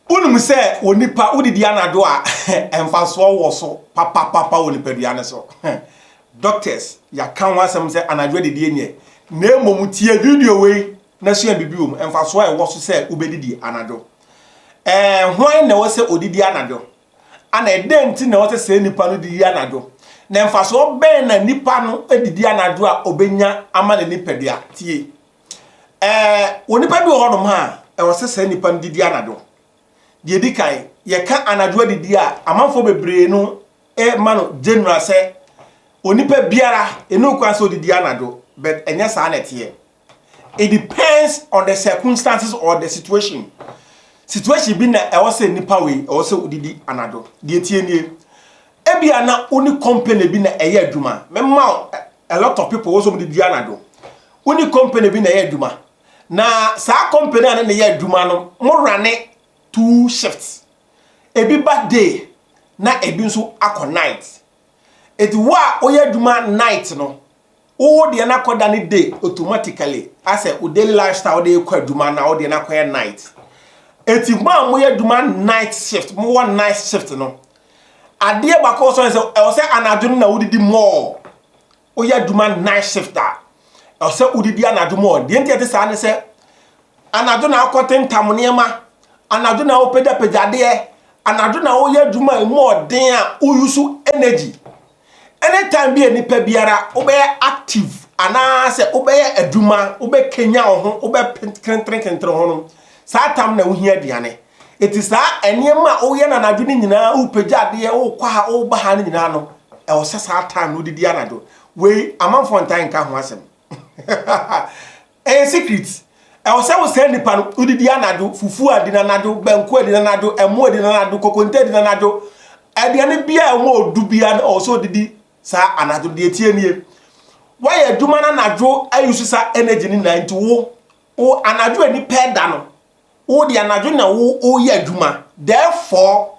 Wonim sɛ onipa wodidi anadwo a mfasoɔ wɔ so papapapa wɔ nipadua no so. Doctors yɛaka ho asɛm sɛ anadwo adidie nyɛ. Na mmom tie video wei na sua biribi wɔ mu, mfasoɔ a ɛwɔ so sɛ wobɛdidi anadwo. Ɛɛ hwan na ɛwɔ sɛ ɔdidi anadwo? Ana ɛdɛn nti na ɛwɔ sɛ saa nipa no didi anadwo? Na mfasoɔ bɛn na nipa no didi anadwo a ɔbɛnya ama ne nipadua? Tie. Ɛɛ, wɔ nnipa bi wɔ hɔnom a, ɛwɔ sɛ saa nnipa no didi anadwo. Deɛ di kan, yɛka anadwo adidi a, amanfoɔ bebree no ma no general sɛ onipa biara ɛni okwan sɛ ɔdidi anadwo, but ɛnyɛ saa na ɛteɛ. It depends on the circumstances or the situation. Situation bi na ɛwɔ sɛ nnipa wei ɛwɔ sɛ ɔdidi anadwo. Deɛ tie nie, ebia na woni company bi na ɛyɛ adwuma, mɛma a lot of people wɔsɛ wɔn de dua anadwo wo ne company bi na ɛyɛ adwuma na saa company a ne ne yɛ adwuma no mo rane two shifts ebi ba day na ebi nso akɔ night eti wo a woyɛ adwuma night no wo deɛ no akɔda ne day automatically asɛ wo daily lifestyle wode kɔ adwuma na wo deɛ no akɔyɛ night eti mo a moyɛ adwuma night shift mo wɔ night shift no Adeɛ baako a ɔsɔre sɛ ɛwɔ sɛ anadwo no na wodidi more. Woyɛ adwuma night shift a, ɛwɔ sɛ wodidi anadwo more. Deɛ nti ɛte saa ne sɛ, anadwo na wokɔtentam nneɛma, anadwo na wopagyapagya adeɛ, anadwo na woyɛ adwuma a ɛmu ɔden a woyusu energy. Any time bi a nipa biara wobɛyɛ active anaasɛ wobɛyɛ adwuma, wobɛkanya wo ho, wobɛkenterekentere ho no, saa tam na wohia aduane. Eti saa nneɛma a woyɛ no anadwo no nyinaa, wopagya adeɛ, wokɔ ha, woba ha no nyinaa no, ɛwɔ sɛ saa tam no wodidi anadwo. Wei, amanfoɔ ntaa nka ho asɛm. Ɛyɛ secret. Ɛwɔ sɛ wo sɛɛ nipa no, wo didi anadwo, fufuo a di no anadwo, banku a di no anadwo, ɛmo a di no anadwo, kokonte a di no anadwo, aduane biara a ɛwɔ ɔdu biara no ɛwɔ sɛ ɔdidi saa anadwo no. Deɛ ɛteɛ nie, woayɛ adwuma no anadwo a use sa energy no nyinaa nti wo, wo anadwo a nipa ɛda no, wo deɛ anadwo na wo, wo yɛ adwuma. Therefore,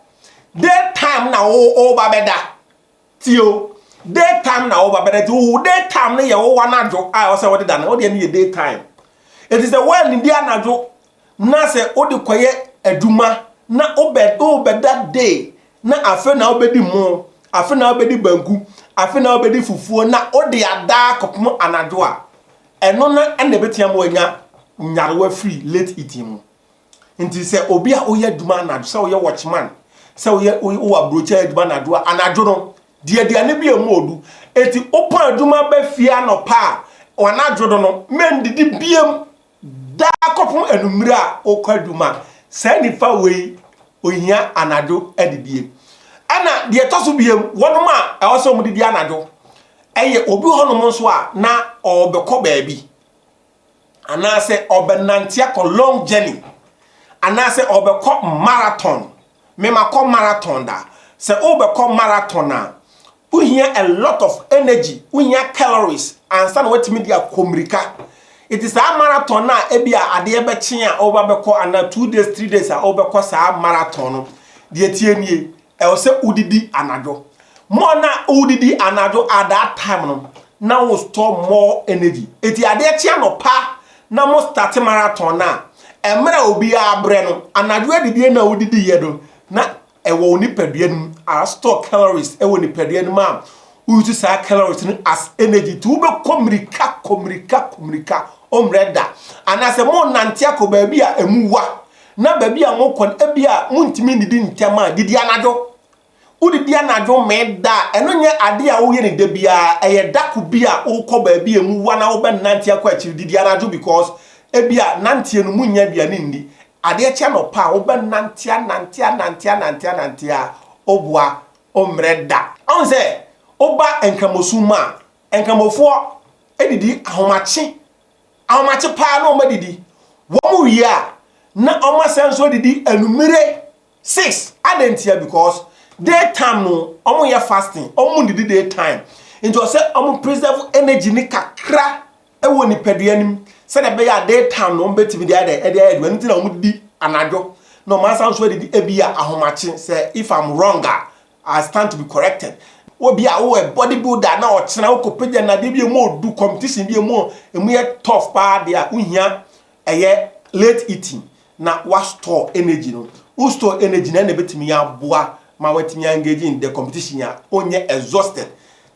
day time na wo, wo ba bɛda. Tie o, day time na woba bɛdɛ nti wo day time no yɛ wo w'anadwo a ɛwɔ sɛ wode da no, wo deɛ no yɛ day time. Ɛti sɛ woannidi anadwo na sɛ wode kɔyɛ adwuma na wobɛda day na afe na wobɛdi mo, afe na wobɛdi banku, afe na wobɛdi fufuo na wode ada akɔpem anadwo a, ɛno na ɛna ɛbɛtia ma wanya nyarewa firi late eating mu. Nti sɛ obi a woyɛ adwuma anadwo, sɛ woyɛ watchman, sɛ woyɛ wowɔ aburokyɛ adwuma anadwo a, anadwo no, di aduane bi a ɛmu odu. Eti wopɔn adwuma ba fie anɔpa a, anadwo no no, mendidi biam daa kɔpem anwummere a wokɔ adwuma. Saa nifa wei, ohia anadwo adidie. Ɛna deɛ ɛtɔ so biam, wɔnom a ɛwɔ sɛ wɔdidi anadwo, ɛyɛ obi hɔnom nso a na ɔrebɛkɔ baabi. Anaasɛ ɔbɛnante akɔ long journey anaasɛ ɔbɛkɔ marathon. Me makɔ marathon da. Sɛ wobɛkɔ marathon a, wohia a lot of energy, wohia calories ansa na woatumi de akɔ mmirika. Nti saa marathon no a ebi a adeɛ bɛkye a wobɛkɔ anaa two days, three days a wobɛkɔ saa marathon no, deɛ ɛteɛ nie. Ɛwɔ sɛ wodidi anadwo. More na wodidi anadwo at that time no na wo store more energy. Eti adeɛ kye anɔpa na mo start marathon no a, mmerɛ a obiara brɛ no, anadwo adidie no a wodidiiɛ no na ɛwɔ wo nipadua no mu a store calories wɔ nipadua no mu a wo use saa calories no as energy nti wobɛkɔ mmirika kɔ mmirika kɔ mmirika, wommerɛ da. Anaasɛ mo nnante akɔ baabi a ɛmu wa Na baabi a mokɔ no, ebia muntumi nnidi ntɛm a, didi anadwo. Wodidi anadwo mee da a, ɛno nyɛ ade a woyɛ no da biara. Ɛyɛ da koro bi a wokɔ baabi a emu wa na wobɛnante akɔ akyiri. Didi anadwo because ebia nanteɛ no munnya aduane nni. Adeɛ kye anɔpa a, wobɛnante anante anante anante anante a, wo boa wommrɛ da. Woahu sɛ woba Nkramosom mu a, Nkramofoɔ didi ahomakye. Ahomakye paa na wɔadidi. Wɔwie a, na wɔasan nso adidi anwummere six. Adɛn ntia? Because day time no wɔyɛ fasting, wɔnnidi day time. Nti wɔ sɛ wɔn preserve energy no kakra wɔ nipadua no mu sɛdeɛ ɛbɛyɛ a day time no wɔbɛtumi de ayɛ de ayɛ adwuma. Ɛno nti na wɔdidi anadwo na wɔasan nso adidi ebi a ahomakye sɛ if I'm wrong a I stand to be corrected Wobi a woyɛ body builder na ɔkyena wokɔ pagya nnadeɛ bi a ɛmu ɔdu competition bi a ɛmu ɛmu yɛ tough paa deɛ a wohia ɛyɛ late eating na wa store energy no wo store energy no ɛna ɛbɛtumi aboa ma watumi engage in the competition a wonyɛ exhausted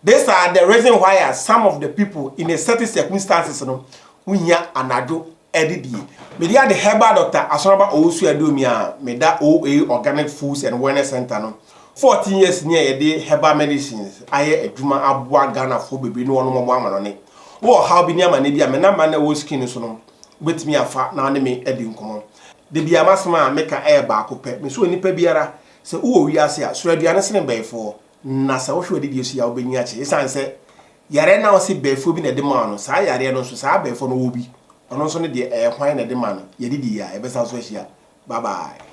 This are the reason why a some of the people in a certain circumstances no wo hia anadwo adidie. Me deɛ ade herbal doctor Asɔrɔba Owusu Aduomi a me da OA Organic Foods and Wellness Center no 14 years ni a yɛde herbal medicines ayɛ adwuma aboa Ghanafoɔ bebree ne wɔnom ɔmo amanɔne. Wo wɔ ɔhaw bi ne amanneɛ bi a me number na ɛwɔ screen no so no wo bɛtumi afa na wo ne me adi nkɔmɔ. Da biara m'asɛm a me ka ɛyɛ baako pɛ, me sɛ onipa biara sɛ wo wɔ wiase a soro aduane sene bɛɛfoɔ. Na sɛ wohwɛ w'adidie nso yie a, wobɛnyin akyɛ. Esiane sɛ yareɛ no a wɔse bɛɛfoɔ bi na ɛde maa no, saa yareɛ no nso, saa bɛɛfoɔ no wɔ bi. Ɔno nso ne deɛ, ɛyɛ hwan na ɛde ma no? Yɛde di yie a, yɛbɛsan so ahyia. Bye bye.